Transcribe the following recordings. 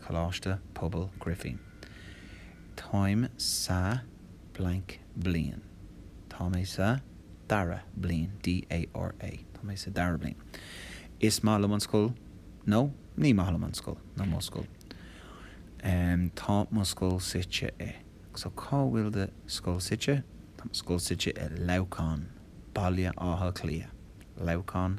Coláiste Pobail Grifín. Táim sa blank bliain. Tá mé sa dara bliain D A R A. Tá mé sa dara bliain. Is maith liom an scoil nó ní maith liom an scoil nó mo scoil. Em, tá mo scoil suite i. So cá bhfuil do scoil suite? Tá mo scoil suite i Leamhcán, Baile Átha Cliath. Leamhcán,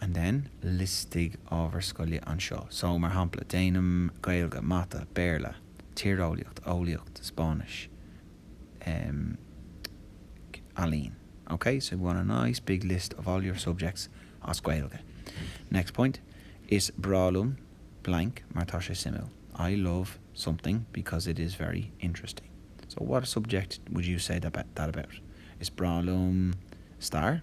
and then liostaigh ábhair scoile anseo. So, mar shampla, déanaim Gaeilge, Mata, Béarla, Tíreolaíocht, Eolaíocht, Spáinnis, em, Ealaín. Ok? So we want a nice big list of all your subjects as Gaeilge. Next point, Is breá liom blank mar tá sé suimiúil. I love something because it is very interesting. So what subject would you say that about? Is breá liom Stair.